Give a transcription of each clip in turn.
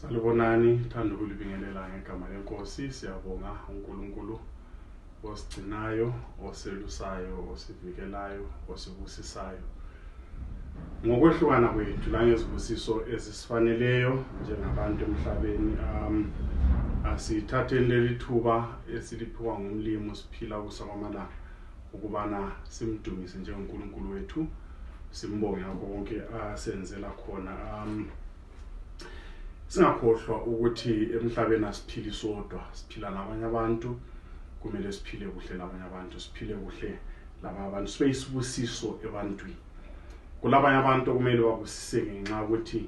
salibonani thanda ukulibingelela ngegama lenkosi siyabonga unkulunkulu osigcinayo oselusayo osivikelayo osibusisayo ngokwehlukana kwethu langezibusiso ezisifaneleyo njengabantu emhlabeni um asithatheni leli thuba esiliphiwa ngumlimu siphila kusawamalanga ukubana simdumise njengonkulunkulu wethu simbonge ngakho konke asenzela khona um singakhohlwa ukuthi emhlabeni asiphili sodwa siphila nabanye abantu kumele siphile kuhle labanye abantu siphile kuhle laba abantu sibe isibusiso ebantwini kulabanye abantu okumele babusise ngenxa ukuthi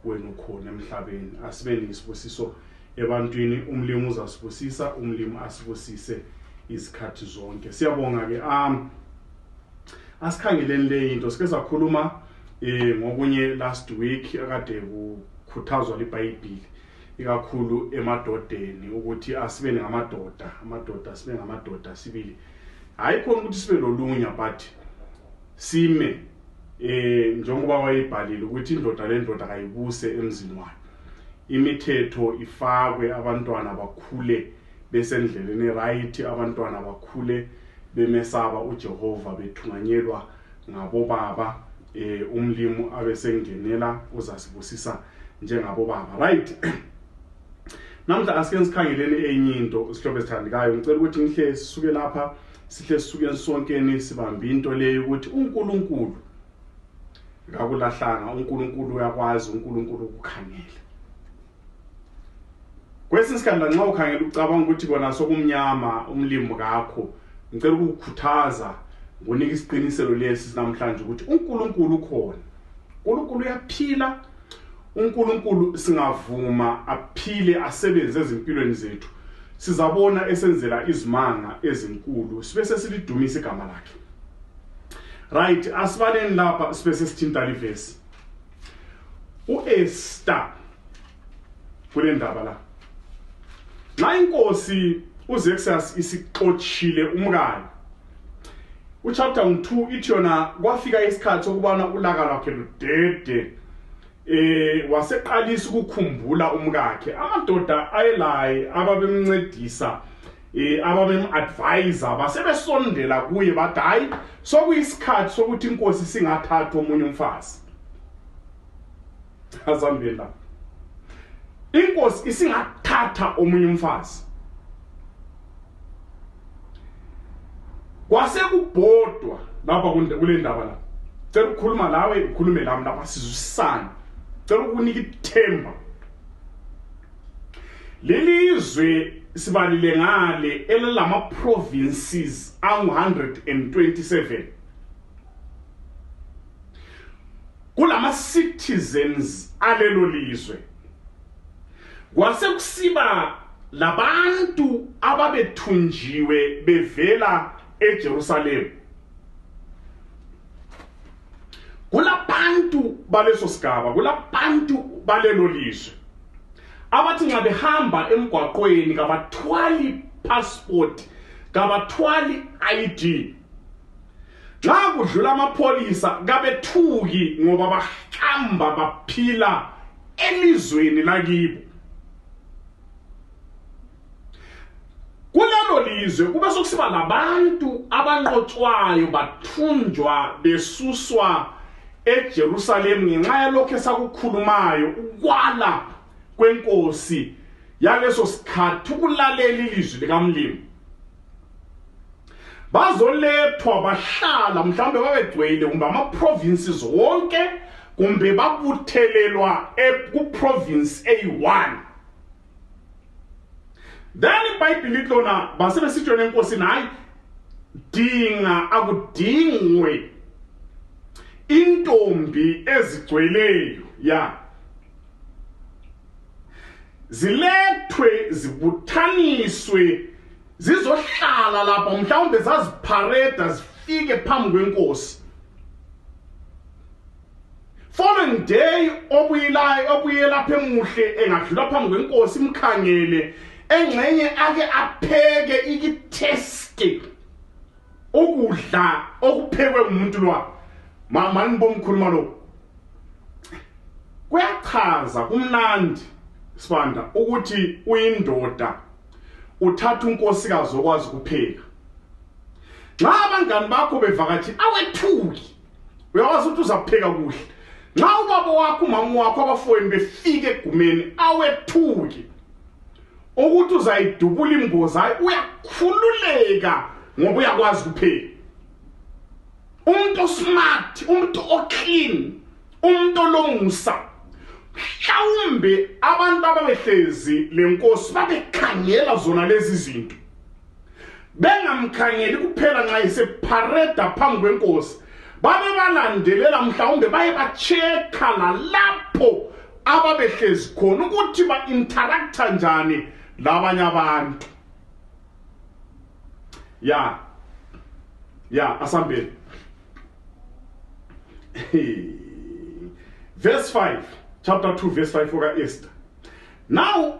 wena ukhona emhlabeni asibe nisibusiso ebantwini umlimu uzasibusisa umlimu asibusise izikhathi zonke siyabonga ke am asikhangeleni le into sike sakhuluma eh ngokunye last week akade kukhuthazwa libhayibhili ikakhulu emadodeni ukuthi asibe ngamadoda amadoda sibe ngamadoda sibili hayi khona ukuthi sibe lolunya but sime eh njengoba wayibhalile ukuthi indoda lendoda kayibuse emzini wayo imithetho ifakwe abantwana bakhule besendleleni right abantwana bakhule bemesaba uJehova bethunganyelwa ngabobaba eh umlimu abesengenela uzasibusisa njengabobaba right namhla asike sikhangeleni enye into sihlobo esithandikayo ngicela ukuthi ngihle sisuke lapha sihle sisukeni sonkeni sibambe into leyo ukuthi uNkulunkulu kakulahlanga uNkulunkulu uyakwazi uNkulunkulu ukukhangela kwesinye isikhathi lanxa ukhangela ucabanga ukuthi kona sokumnyama umlimi kakho ngicela ukukukhuthaza ngonika isiqiniselo lesi namhlanje ukuthi uNkulunkulu ukhona uNkulunkulu uyaphila uNkulunkulu singavuma aphile asebenze ezimpilweni zethu sizabona esenzela izimanga ezinkulu sibe sesilidumisa igama lakhe right asibaleni lapha sibe sesithinta livesi uEsther kule ndaba la nxa inkosi uZexas isixotshile umkayo uchapter 2 ithi yona kwafika isikhathi sokubana ulaka lwakhe ludede eh waseqalisa ukukhumbula umkakhe amadoda ayelaye ababemncedisa eh ababem-advise basebesondela kuye bathi hayi sokuyisikhathi sokuthi inkosi singathatha omunye umfazi asambeni lapho inkosi isingathatha omunye umfazi kwasekubhodwa lapha kule ndaba la cela ukukhuluma lawe ukhulume lami lapha sizwisane cela ukunika ithemba leli izwe sibalile ngale elalama-provinces angu-127 kulama citizens alelo lizwe kwasekusiba labantu ababethunjiwe bevela eJerusalem kulabantu baleso sigaba kulabantu balelo lizwe abathi nxa behamba emgwaqweni kabathwali passport kabathwali ID nxa kudlula amapholisa kabethuki ngoba bahamba baphila elizweni lakibo kulelo lizwe kube sokusiba labantu abanqotshwayo bathunjwa besuswa eJerusalem ngenxa yalokho esakukhulumayo ukwala kwenkosi yaleso sikhathi ukulalela ilizwi likamlimi bazolethwa bahlala mhlawumbe babegcwele kumbe ama-provinces wonke kumbe babuthelelwa e, kuprovince eyi-one then ibhayibhile lithi lona basebesitshona enkosini hhayi dinga akudingwe intombi ezigcweleyo ya zilethwe zibuthaniswe zizohlala lapha mhlawumbe zaziphareda zifike phambi kwenkosi following day obuyelayo obuyelapha emuhle engadlula phambi kwenkosi imkhangele engxenye ake apheke ikithesti ukudla okuphekwe ngumuntu lwa mama nibomkhuluma lo kuyachaza kumnandi sibanda ukuthi uyindoda uthatha unkosikazi okwazi kupheka nxa abangani bakho bevakatshile awethuki uyawazi ukuthi uzapheka kuhle nxa ubaba wakho umama wakho abafowenu befike egumeni awethuki ukuthi uzayidubula imboza uyakhululeka ngoba uyakwazi kuphela umuntu osmart umuntu oclean umuntu olomusa mhlawumbe abantu ababehlezi lenkosi babekhangela zona lezi zinto bengamkhangeli kuphela nxa esephareda phambi kwenkosi babebalandelela mhlawumbe baye batshekha lalapho ababehlezi khona ukuthi ba-interaktha njani labanye abantu ya ya asambeni verse 5 chapter 2 verse 5 okaester now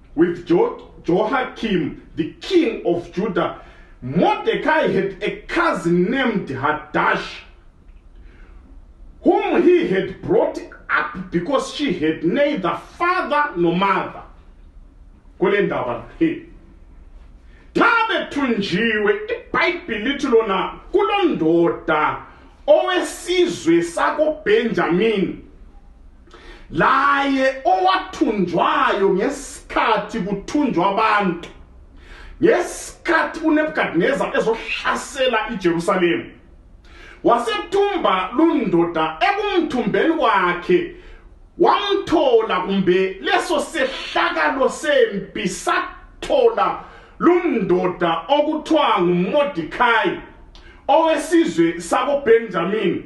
With jo Joachim, the king of Judah, Mordecai had a cousin named Hadash, whom he had brought up because she had neither father nor mother. kule ndaba le xa bethunjiwe ibhayibhile lithi lona kulondoda owesizwe sakobenjamini laye owathunjwayo ngesikhathi kuthunjwa abantu ngesikhathi unebukadineza ezohlasela ijerusalema wasethumba lundoda ekumthumbeni kwakhe wamthola kumbe leso sehlakalo sempi sathola lundoda okuthiwa ngumodikhayi owesizwe sakobenjamini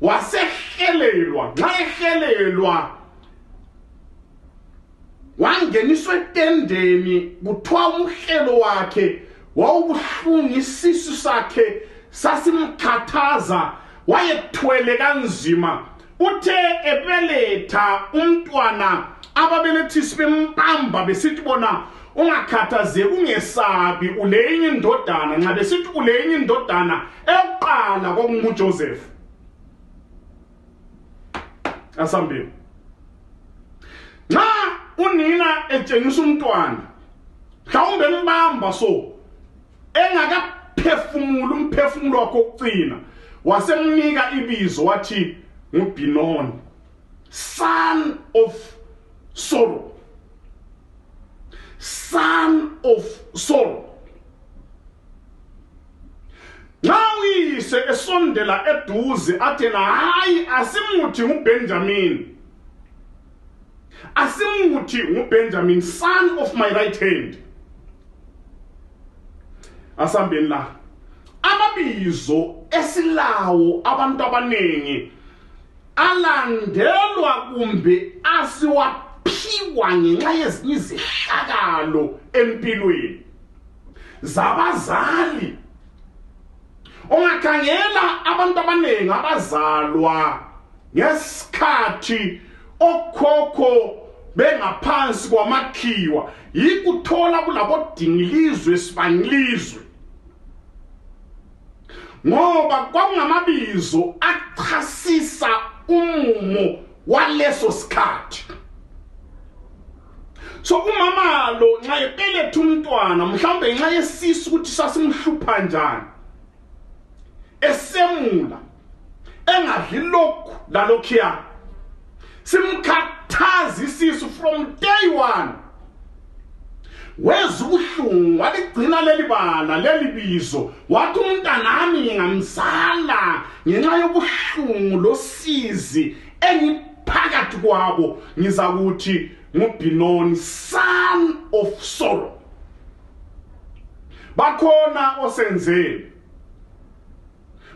wasehelelwa nxa ehelelwa wangeniswa etendeni kuthiwa umhlelo wakhe wawubuhlungu isisu sakhe sasimkhathaza wayethwele kanzima uthe ebeletha umntwana ababelethisi bembamba besithi bona ungakhathazeki ungesabi ulenye indodana nxa besithi ulenye indodana eyokuqala kwakunguJoseph asambeni nxa unina etshengisa umntwana mhlawumbe embamba so engakaphefumula umphefumulo wakhe okucina wasemnika ibizo wathi ngubhinoni Son of sorrow. Son of sorrow. nxa uyise esondela eduze athena hayi asimuthi ngubenjamini asimuthi ngubenjamini son of my right hand asambeni la amabizo esilawo abantu abaningi alandelwa kumbe asiwaphiwa ngenxa yezinye izehlakalo empilweni zabazali ungakhangela abantu abaningi abazalwa ngesikhathi okhokho bengaphansi kwamakhiwa yikuthola kulabodingilizwe sibangilizwe ngoba kwakungamabizo achasisa umumo waleso sikhathi so umama lo nxa ebeletha umntwana mhlawumbe ngenxa yesisu ukuthi sasimhlupha njani esemula engadli lokhu lalokhiya simkhathaza isisu from day one weza ubuhlungu waligcina leli bala leli bizo wathi umntanami ngingamzala ngenxa yobuhlungu losizi engiphakathi kwabo ngizakuthi ngubhinoni son of sorrow bakhona osenzeni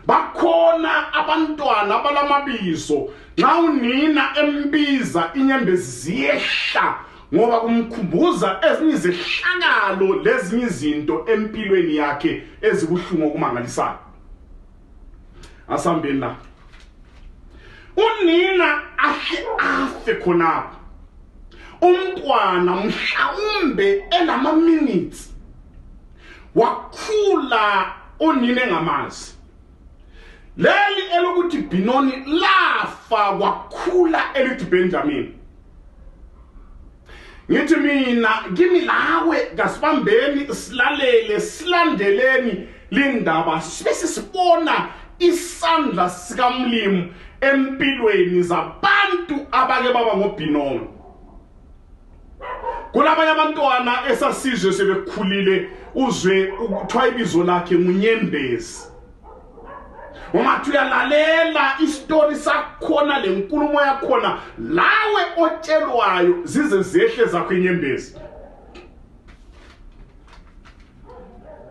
bakhona abantwana abalamabizo nxa unina embiza inyembezi ziyehla ngoba kumkhumbuza ezinye izehlakalo lezinye izinto empilweni yakhe ezibuhlungu okumangalisayo asambeni la unina ahle afe khonapho umntwana mhlawumbe elama-minutes wakhula unina engamazi leli elokuthi binoni lafa wakhula elithi benjamini ngithi mina kimi lawe kasibambeni silalele silandeleni lindaba sibe sisibona isandla sikamlimu empilweni zabantu abake baba ngobhinono kunabanye abantwana esasizwe sebekhulile uzwe ukuthiwa ibizo lakhe ngunyembezi ungathi uyalalela isitori sakhona le nkulumo yakhona lawe otshelwayo zize zehle zakho inyembezi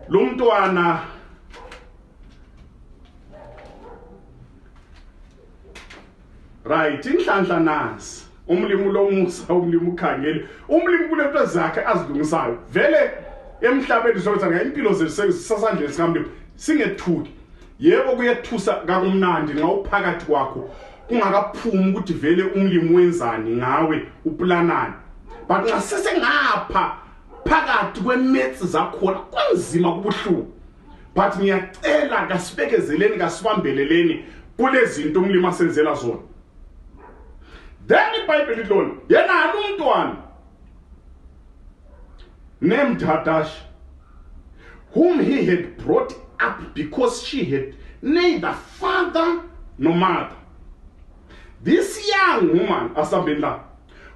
lo mntwana right inhlanhla nasi umlimi ulomusa umlimi ukhangele umlimi kulento ezakhe azilungisayo vele emhlabeni sokuthi ngempilo zethu sasandleni sikamlimi singethuki yebo kuyethusa kakumnandi nxa uphakathi kwakho kungakaphumi ukuthi vele umlimi wenzani ngawe uplanani but nxa sesengapha phakathi kwemetsi zakhona kunzima kubuhlungu but ngiyacela kasibekezeleni kasibambeleleni kulezinto umlimi asenzela zona then ibhayibheli lona yena halumntwana named hadash whom he had brought up because she had neither father nor mother this young woman asambeni la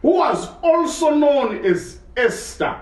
who was also known as esther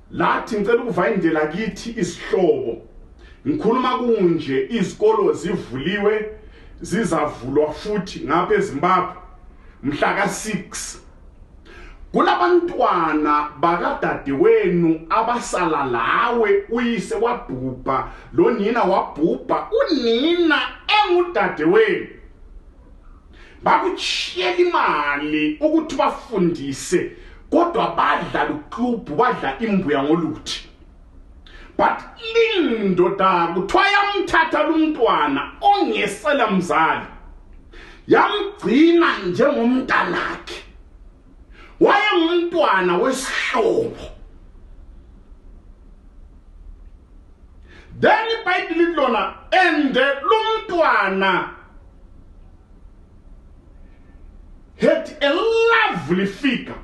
lathi ngicela ukuvayindela kithi isihlobo ngikhuluma kunje izikolo zivuliwe zizavulwa futhi ngapha ezimbabwe mhla ka-6 kulabantwana bakadadewenu abasala lawe uyise wabhubha lonina wabhubha unina engudadewenu bakuchiyela imali ukuthi bafundise kodwa badla luklubhu badla imbuya ngoluthi but lindoda kuthiwa yamthatha lumntwana ongesela mzali yamgcina njengomntanakhe wayengumntwana wesihlobo then ibhayibhile lithi lona and lo mntwana had a lovely figure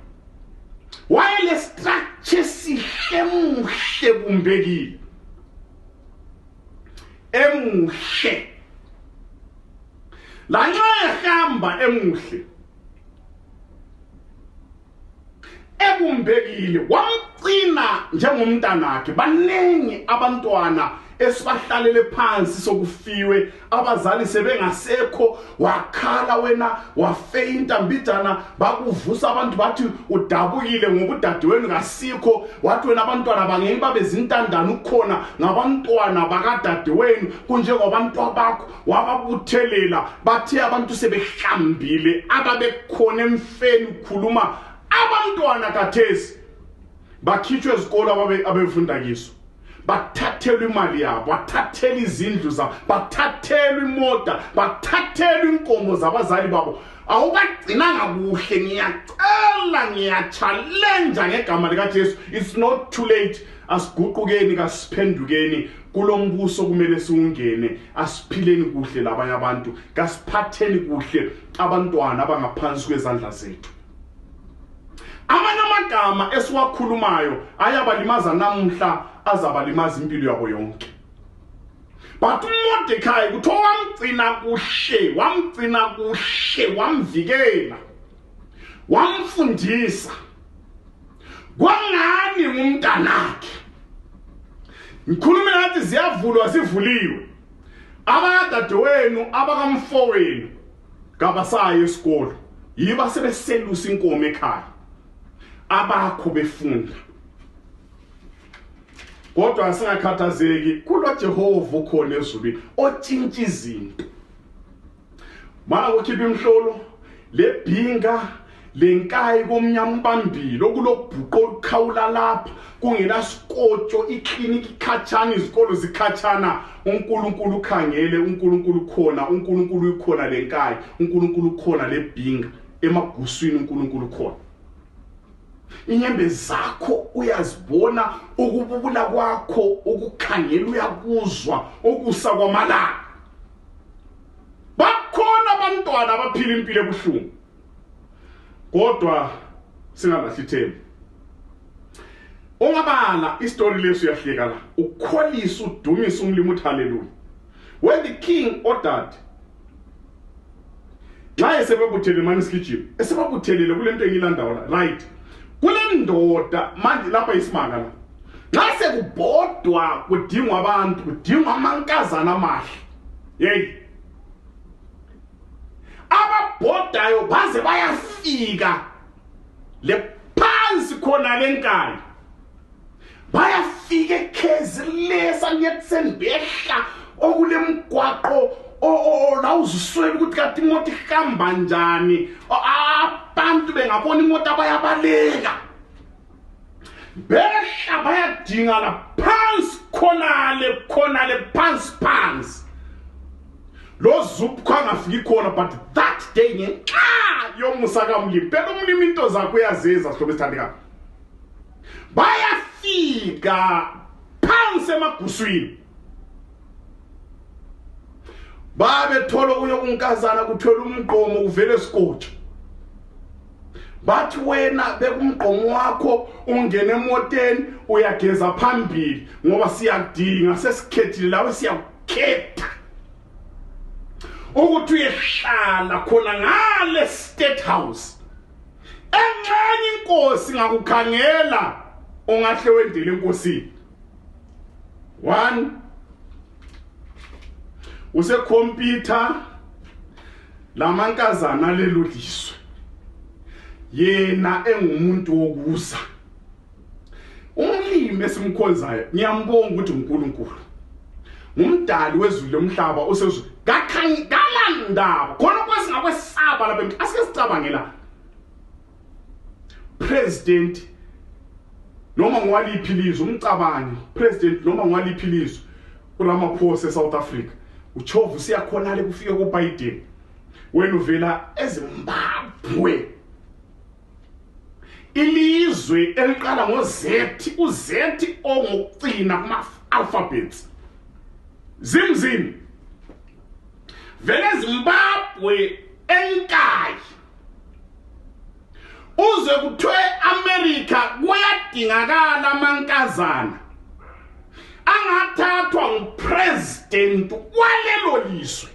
wayelestructure esihle muhle bumbekile emuhle lanxa ehamba emuhle ekumbekile wamcina njengomntanakhe baningi abantwana esibahlalele phansi sokufiwe abazali sebengasekho wakhala wena wafeyinta mbijana bakuvusa abantu bathi udabukile ngoba udadewenu kasikho wathi wena abantwana bangeni babezintandane ukhona ngabantwana bakadadewenu kunjengobantwa bakho wababuthelela bathe abantu sebehlambile ababekhona emfeni ukhuluma abantwana kathesi bakhitshwe ezikolo abebefunda kiso bathathelwa imali yabo bathathela izindlu zabo bathathelwa imoda bathathelwa inkomo zabazali babo awubagcinanga kuhle ngiyacela ngiyatshalenja ngegama likajesu it's not too late asiguqukeni kasiphendukeni kulombuso kumele siwungene asiphileni kuhle labanye abantu kasiphatheni kuhle abantwana abangaphansi kwezandla zethu amanye amagama esiwakhulumayo ayabalimaza namuhla azabalimaza impilo yabo yonke but umordekayi kuthiwa wamgcina kuhle wamgcina kuhle wamvikela wamfundisa kwangani ngumntanakhe ngikhulume ngathi ziyavulwa zivuliwe abakadadewenu abakamfowenu kabasayo esikolo yiba sebeselusa inkomo ekhaya abakho befunda kodwa singakhathazeki kulo Jehova ukhona ezulwini otshintsha izinto mana kukhipha imhlolo lebhinga lenkayi komnyama ubambile okulobhuqo olukhawula lapha kungenasikotshyo ikliniki ikhatshana izikolo zikhatshana unkulunkulu ukhangele unkulunkulu ukhona unkulunkulu ukhona lenkayi unkulunkulu ukhona lebhinga emaguswini unkulunkulu ukhona inyembe zakho uyazibona ukububula kwakho ukukhangela uyakuzwa ukusa kwamalanga bakhona abantwana abaphila impilo ebuhlungu kodwa singalahli ithemba ungabala isitori lesi uyahleka la ukholisa udumisa umlimi uthi haleluya when the king ordered nxa esebebuthele mani sigijima esebabuthelele kule nto engiyilandawo la right kule ndoda manje lapha isimanga la nxa sekubhodwa kudingwa abantu kudingwa amankazana amahle yeyi ababhodayo baze bayafika le phansi khona lenkani bayafika ekhezi lesa niyetseni behla okulemgwaqo la uziswela ukuthi kati imoto ihamba njani abantu bengabona imoto abayabaleka behla bayadingana phansi khonale khonale phansi phansi lo zupkho angafiki khona but that day ngenxa yomusa kamlimi phela umlimi into zakho uyazenza sihlobo esithandekayo bayafika phansi emaguswini babethola okunye okunkazana kuthwele umgqomo uvele sikotsha bathi wena bekumgqomo wakho ungene emoteni uyageza phambili ngoba siyakudinga sesikhethile lawe siyakukhetha ukuthi uyehlala khona ngale state house enxenye inkosi ngakukhangela ongahle wendele enkosini one usekhompyutha lamankazana lelo lizwe yena engumuntu wokuza umlimi esimkhonzayo ngiyambonga ukuthi uNkulunkulu ngumdali wezulu lomhlaba usezulu kakhangala ndaba khona kwasingakwesaba lapha emhlabeni asike sicabangela president noma ngwaliphi lizwe umcabangi president noma ngwaliphi lizwe kulamaphosa eSouth Africa uchovu usiyakhona le kufike kuBiden wena uvela ezimbabwe ilizwi eliqala ngo-z u-z ongokucina kuma-alphabets zimzini vele zimbabwe enkayi uze kuthiwe amerika kuyadingakala amankazana angathathwa nguprezidenti walelo lizwe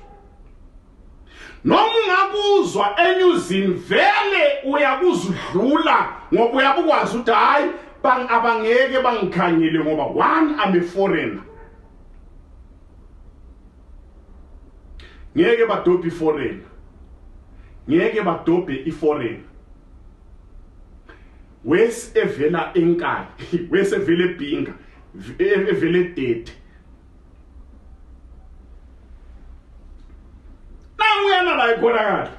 noma ungakuzwa enyuzini vele uyakuzudlula ngoba uyabukwazi ukuthi hhayi abangeke bangikhangele ngoba one I'm a foreigner ngeke badobhe iforeigner ngeke badobhe iforeigner wesi evela enkani wesi evela ebhinga evela edede nanguyana la ikhonakala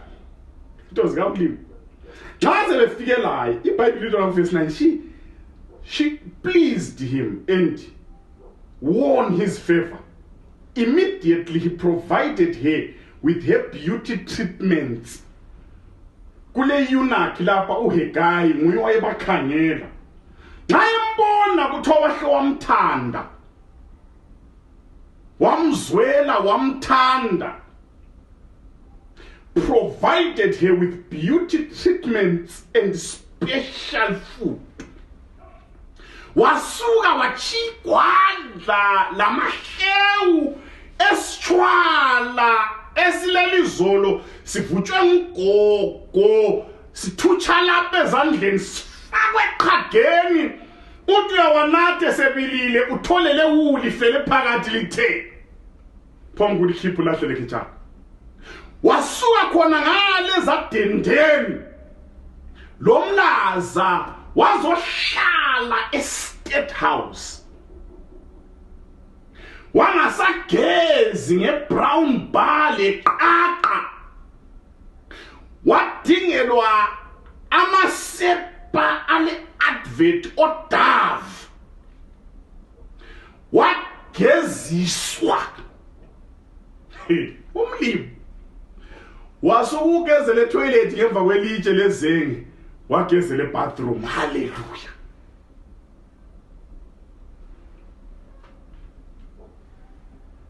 into zikamlimi xa sebefike laye ibhayibhile into lamfesi 9 she she pleased him and won his favor immediately he provided her with her beauty treatments kule yunakhi lapha uhegayi nguye wayebakhangela xa embona kuthiwa wahle wamthanda wamzwela wamthanda provided her with beauty treatments and special food wasuka wachigwadla lamahewu esitshwala esilelizolo sivutshwe ngugogo sithutsha lapha ezandleni sifakwe eqhageni uthi uyawanathe sebilile uthole lewuli lifele phakathi lithe phambi ukuthi khipha ulahle lekhitshana wasuka khona ngale zadendeni lo mlaza wazohlala estate house wangasagezi ngebrown bar leqaqa wadingelwa amasepa ale-advent odav wageziswa umlimi wasukukezela etoilet ngemva kwelitshe lezenge wagezela ebathroom halleluya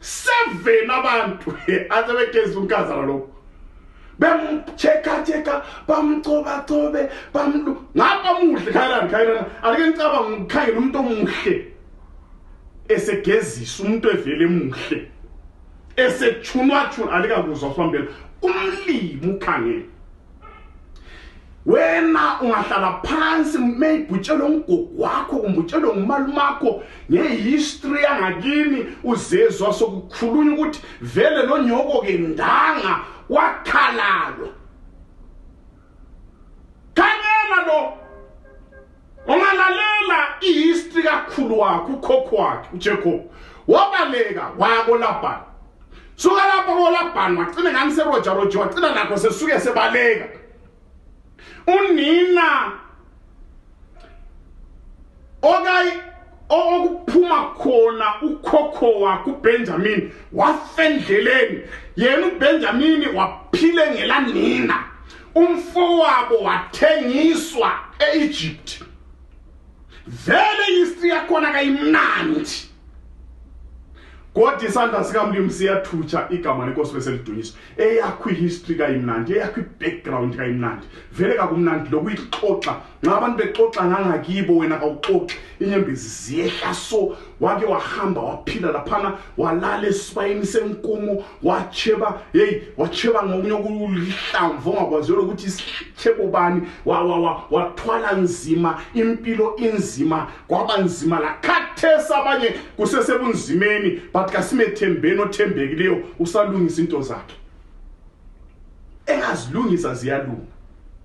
seven abantu asebegeza unkazana lokho bemchekacheka bamcobacobe bamlu ngapha muhle khayelani khayelani alike ngicabanga ngikhangela umuntu omuhle esegezisa umuntu evele muhle esechunwachuna alikakuzwa sihambela umlimi ukhangela wena ungahlala phansi meyibhutshelwe umgugu wakho kumbe utshelwe ngumalumakho ngehistory yangakini uzezwa sokukhulunywa ukuthi vele lo nyoko ke ndanga wakhalalwa khanyela lo ungalalela ihistory kakhulu wakho ukhokho wakhe uJacob wabaleka waya koLaban suka lapho koLaban wacina ngani seRoger Roger wacina nakho sesuke sebaleka unina okayi okuphuma khona ukhokho wakhe uBenjamin wafendleleni yena uBenjamin waphile ngelanina umfowabo wathengiswa e-egypt vele history yakhona kayimnandi kodwa isandla sikamlimu siyathutsha igama lenkosi beselidunyiswa eyakho ihistory kayimnandi eyakho ibackground kayimnandi vele kakumnandi lokuyixoxa nxa abantu bexoxa ngangakibo wena kawuxoxi inyembezi ziyehla so wake wahamba waphila laphana walala esibayeni senkumo watsheba heyi watsheba ngokunye okulihlamvu ongakwaziyo lokuthi isitshebo bani wathwala nzima impilo inzima kwaba nzima lakhathesi abanye kusesebunzimeni but kasimethembeni othembekileyo usalungisa into zakhe engazilungisa ziyalunga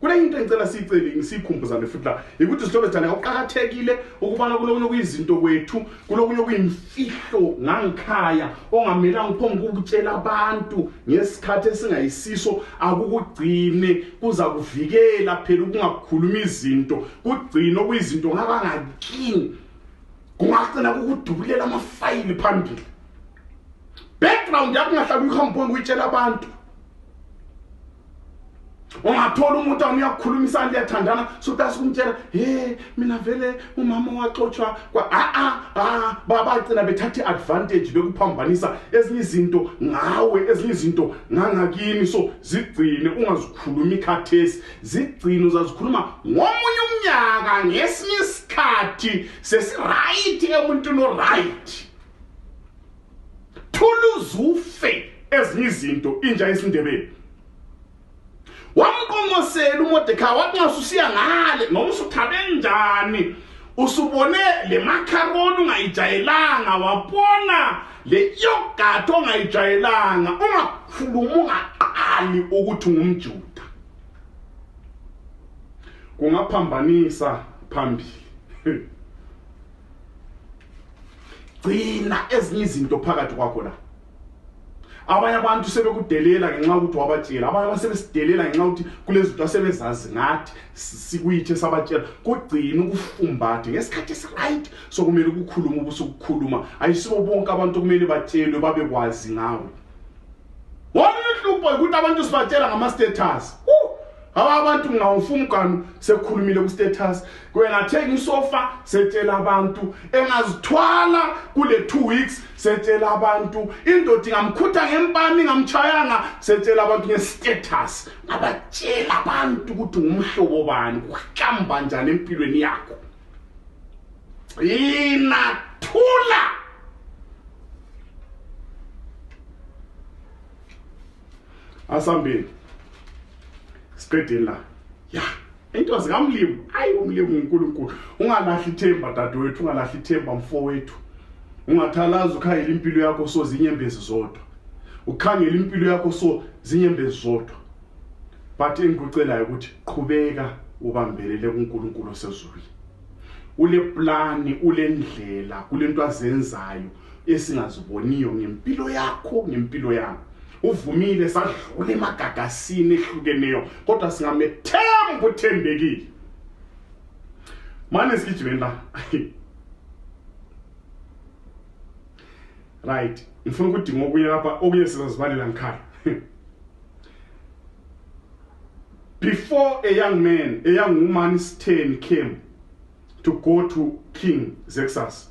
kule into engicela siyiceli siyikhumbuzane futhi la yikuthi zihlobo zithane kuqakathekile ukubana kulokunye okuyizinto kwethu kulokunye okuyimfihlo ngangikhaya ongamelanga uphombe ukutshela abantu ngesikhathi esingayisiso akukugcine kuza kuvikela phela ukungakhuluma izinto kugcine okuyizinto ngabangakini kungagcina kukudubulela amafayili phambili background yakho ungahlala uyihambe uphombe uyitshela abantu ungathola umuntu awuya kukhulumisana liyathandana sutasi kumtshela he mina vele umama waxotshwa kwa a a a babagcina bethatha i-advantage bekuphambanisa ezinye izinto ngawe ezinye izinto ngangakini so zigcine ungazikhulumi khathesi zigcine uzazikhuluma ngomunye umnyaka ngesinye isikhathi sesirayithi emuntwini orayithi thuluzi ufe ezinye izinto inja yesindebele wamqonqosela uMordecai wathi nxa usiya ngale noma usuthabe njani usubone le macaroni ungayijayelanga wabona le yogurt ongayijayelanga ungakhulumi ungaqali ukuthi ungumjuda kungaphambanisa phambili gcina ezinye izinto phakathi kwakho la abanye abantu sebekudelela ngenxa ukuthi wabatshela abanye basebesidelela ngenxa ukuthi kulezinto asebezazi ngathi sikuyithe sabatshela kugcina ukufumbathe ngesikhathi esiright sokumele ukukhuluma ubusukukhuluma ayisibo bonke abantu kumele batshelwe babekwazi ngawe wona uhlupho ukuthi abantu sibatshela ngama-status awa abantu ngawufuna uganu sekhulumile kustatus kwena thenga isofa setshela abantu engazithwala kule 2 weeks setshela abantu indoda ingamkhutha ngempani ngamchayanga setshela abantu ngestatus abatshela abantu ukuthi ngumhlobo bani kuhlamba njani empilweni yakho yina thula asambeni siqedeni la ya into zikamlimi hayi umlimi unkulunkulu ungalahli ithemba dadewethu ungalahli ithemba mfowethu ungathalazi ukhangela impilo yakho so zinyembezi zodwa ukhangela impilo yakho so zinyembezi zodwa but engikucelayo ukuthi qhubeka ubambelele kuNkulunkulu osezulwini ule plani ule ndlela kule nto azenzayo esingaziboniyo ngempilo yakho ngempilo yami uvumile sadlula emagagasini ehlukeneyo kodwa singamethemba uthembekile mane sigijimeni la right ngifuna ukudinga okunye lapha okunye sizazibalela ngikhala before a young man a young woman sitheni came to go to king zexas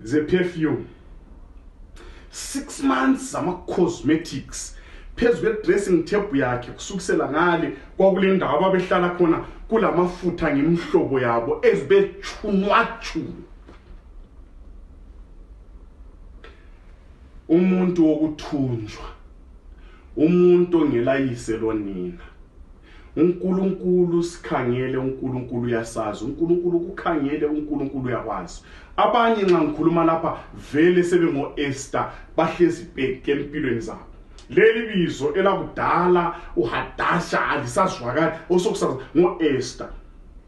zeperfume six months zama-cosmetics phezu kwe-dressing table yakhe kusukisela ngale kwakule ndawo ababehlala khona kula mafutha ngemihlobo yabo ezibechunwachunwa umuntu wokuthunjwa umuntu ongelayise lonina uNkulunkulu sikhangele uNkulunkulu uyasazi uNkulunkulu kukhangele uNkulunkulu uyakwazi abanye nxa ngikhuluma lapha vele sebengo-ester bahlezi bheke empilweni zabo leli bizo elakudala uhadasha alisazwakali osokusazi ngo-ester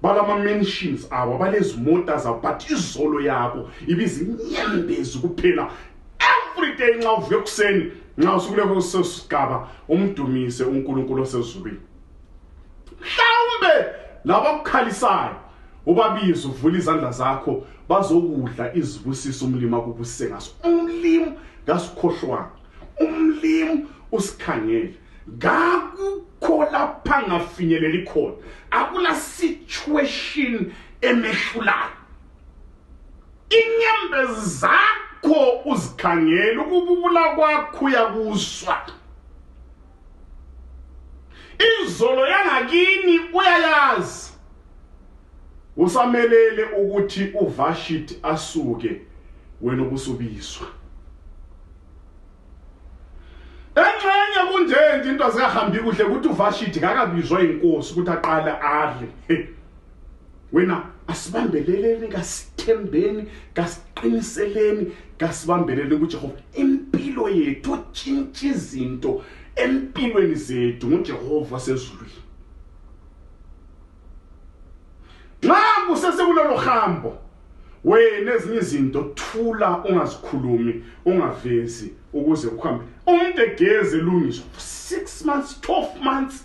balama-mentions abo balezimota zabo but izolo yabo ibizinyembezi kuphela every day nxa uvuka ekuseni nxa usukule kusesigaba umdumise uNkulunkulu osezulwini mhlawumbe labakukhalisayo ubabize uvula izandla zakho bazokudla izibusiso umlimi akubusise ngaso umlimi kasikhohlwanga umlimi usikhangele ngakukho lapha ngafinyeleli khona akula situation emehlulayo inyembezi zakho uzikhangela ukububula kwakho uyakuzwa izolo yangakini uyayazi usamelele ukuthi uvashit asuke wena ubusubizwa enxenye kunjenje into azikahambi kuhle ukuthi uvashit kakabizwa inkosi ukuthi aqale adle wena asibambeleleni kasithembeni kasiqiniseleni kasibambelele kujehova impilo yethu otshintsha izinto empilweni zethu ngujehova sezulwini nxa kusesekulolo hambo wena ezinye izinto thula ungazikhulumi ungavezi ukuze ukuhambe umuntu egeze lungiswa 6 months 12 months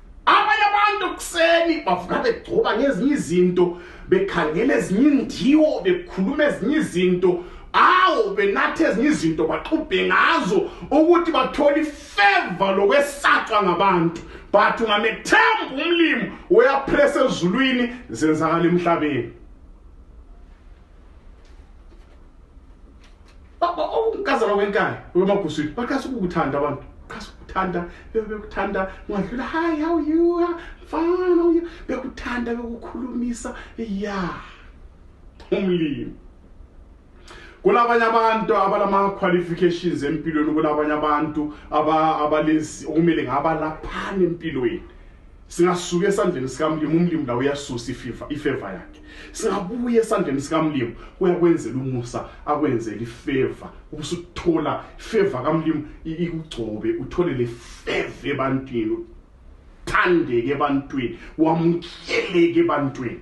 abanye abantu kuseni bavuka begcoba ngezinye izinto bekhangela ezinye indiwo bekhuluma ezinye izinto awu benatha ezinye izinto baxubhe ngazo ukuthi bathole ifeva lokwesatshwa ngabantu but ungamethemba umlimi uyapresa ezulwini zenzakala emhlabeni ukazalwa oh, kwenkani uyomaguswini baqhasa ukukuthanda abantu qhasa ukuthanda bekuthanda ungadlula hi how you fine how you bekuthanda bekukhulumisa ya umlimi kulabanye abantu abanama-qualifications empilweni kulabanye abantu abalezi okumele ngabalaphana empilweni singasuka esandleni sikamlimi umlimi la uyasusa ififa ifeva yakhe singabuye esandleni sikamlimi uyakwenzela umusa akwenzele ifeva ubusuthola ifeva kamlimi ikugcobe uthole le feva ebantwini uthandeke ebantwini wamukeleke ebantwini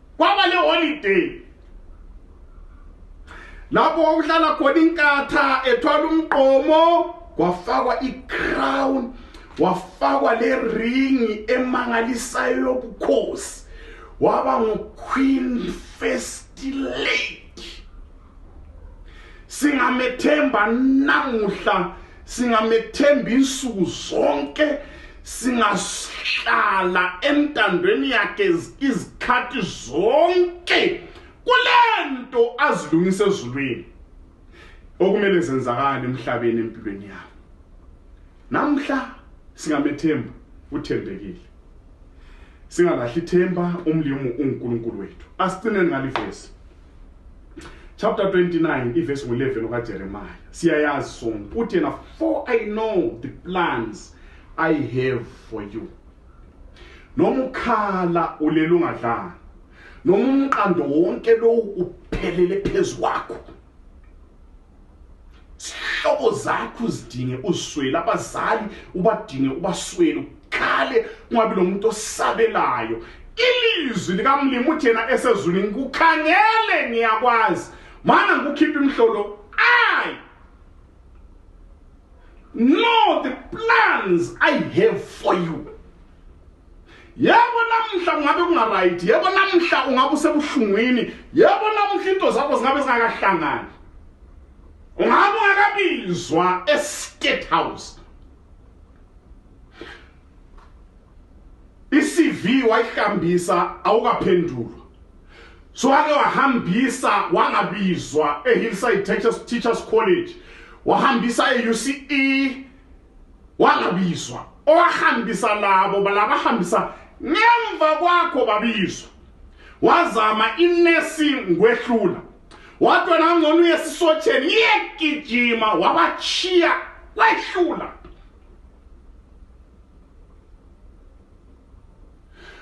kwaba le holiday lapho kwakuhlala khona inkatha ethwala umqomo kwafakwa i-crown wafakwa le ringi emangalisayo yobukhosi waba ngu-queen first lady singamethemba namuhla singamethemba insuku zonke singahlala entandweni yakhe izikhathi zonke kulento azilungise ezulwini okumele zenzakale emhlabeni empilweni yami namhla singamethemba uthembekile singalahli ithemba umlimu uNkulunkulu wethu asicine ngalivesi chapter 29 ivesi ngo-11 okajeremaya siyayazi sonke uthi yena for i know the plans i have for you noma ukhala ulela ungadlanga noma umqando wonke lowu uphelele phezu kwakho zihlobo zakho uzidinge uswele abazali ubadinge ubaswele ukhale ungabi lo muntu osabelayo ilizwi likamlimi uthi yena esezulwini kukhangele ngiyakwazi mana ngikukhipha imhlolo ayi know the plans i have for you yebo namhla kungabe kungaright yebo namhla ungabe usebuhlungwini yebo namhla into zakho zingabe zingakahlangani ungabe ungakabizwa estate house i-cv wayihambisa awukaphendulwa so wake wahambisa wangabizwa ehillside teachers, teachers college wahambisa e-uce wangabizwa owahambisa labo balabahambisa ngemva kwakho babizwa wazama inesi ngwehlula wadwa nangcono uye esisotsheni iyegijima wabachiya wehlula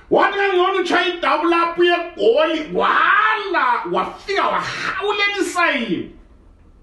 wathi kangcono utshaya idabu lapho uyegoli wala wafika wahawulela isayini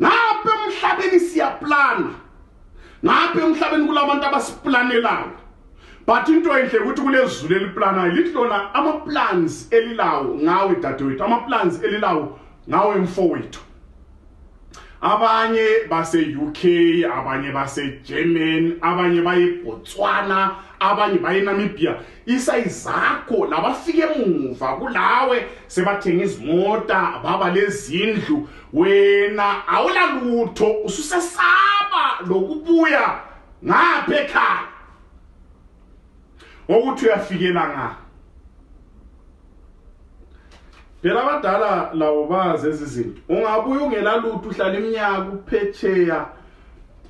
ngapha emhlabeni siyaplana ngapha emhlabeni kulabantu abasiplanelayo but into enhle ukuthi kulezulu eliplanayo lithi lona ama-plans elilawo ngawe dadewethu ama-plans elilawo ngawe mfowethu abanye base-uk abanye base-german abanye bayebotswana abanye bayenamibia isayizakho labafike emuva kulawe sebathenga izimota baba lezindlu wena awulalutho ususesaba lokubuya ngapha ekhaya ngokuthi uyafikela ngaphi phela abadala labo bazi ezi zinto ungabuye ungela lutho uhlala iminyaka uphetsheya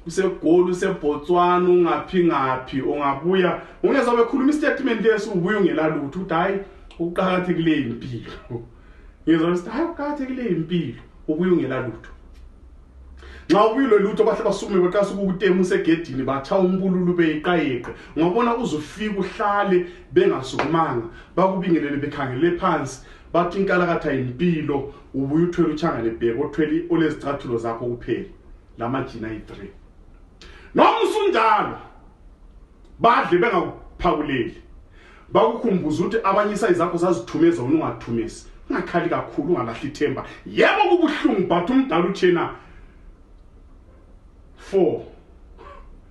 usegoli usebotswana ungaphi ngaphi ungabuya ungezwa bekhuluma istatement esi ubuye ungela lutho ukuthi hhayi ukuqakathekile impilo ngizwa ukuthi hhayi ukuqakathekile impilo ubuye ungela lutho nxa ubuyilwe lutho bahle basukume beqasa ukukutema usegedini batshaya umbululu beyiqayeqe ngabona uzufika uhlale bengasukumanga bakubingelele bekhangele phansi bathi inkalakatha yimpilo ubuye uthwele utshangane bheke othwele olezicathulo zakho kuphela lamajina yi-three noma usunjalo badle bengakuphakuleli bakukhumbuza ukuthi abanye isayi zakho zazithumeza wena ungathumezi ungakhali kakhulu ungalahli ithemba yebo kubuhlungu but umdala uthena four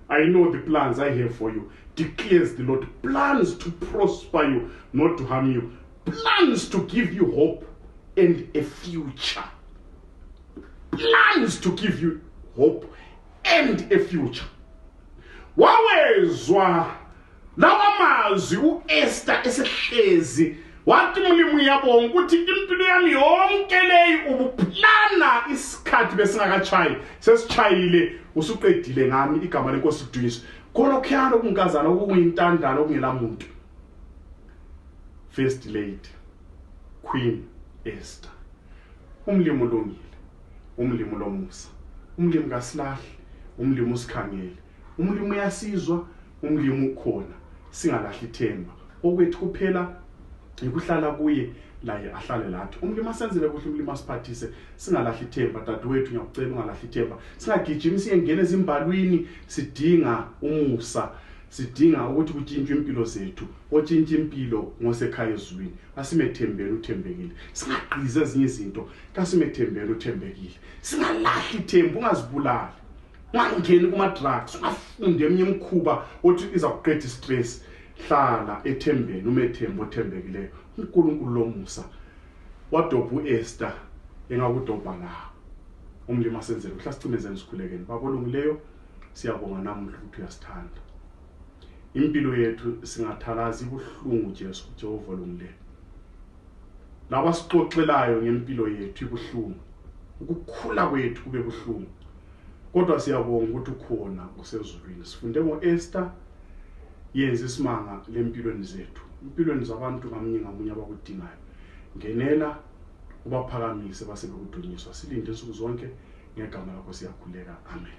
i know the plans i have for you declares the lord plans to prosper you not to harm you plans to give you hope and a future plans to give you hope and a future wawezwa lawa mazwi u-esta esehlezi wathi mulimu yabonga ukuthi impilo yami yonke leyi ubuplana isikhathi besingakatshayi sesitshayile usuqedile ngami igama lenkosi lidunyiswe kholokhuyana okunkazana okunguyintandana okungela muntu first lady queen ester umlimu ulungile umlimi ulomusa umlimi kasilahle umlimi usikhangele umlimi uyasizwa umlimi ukhona singalahli ithemba okwethu kuphela yikuhlala kuye laye ahlale lathi umlimi asenzele kuhle umlimi asiphathise singalahli ithemba dadewethu ngiyakucela ungalahli ithemba singagijimi siyengena ezimbalwini sidinga umusa sidinga ukuthi kutshintshwe impilo zethu otshintsha impilo ngosekhaya ezulwini asimethembeni uthembekile singagqizi ezinye izinto kasimethembele uthembekile singalahli ithembu ungazibulali ungangeni kuma-drugs ungafundi eminye imikhuba othi iza kuqeda istress hlala ethembeni umethembu othembekileyo unkulunkulu lomusa wadobha u-ester engakudobha lawo umlimi asenzele kuhla sicimezeni sikhulekeni babolungileyo siyabonga namuhla ukuthi uyasithanda impilo yethu singathalazi ibuhlungu jesu jehova olungileyo labasixoxelayo ngempilo yethu ibuhlungu ukukhula kwethu kube buhlungu kodwa siyabonga ukuthi ukhona usezulwini sifunde ngo-ester yenza isimanga lempilweni zethu impilweni zabantu ngamunye ngamunye abakudingayo ngenela ubaphakamise basebekudunyiswa silinde insuku zonke ngegama lakho siyakhuleka amen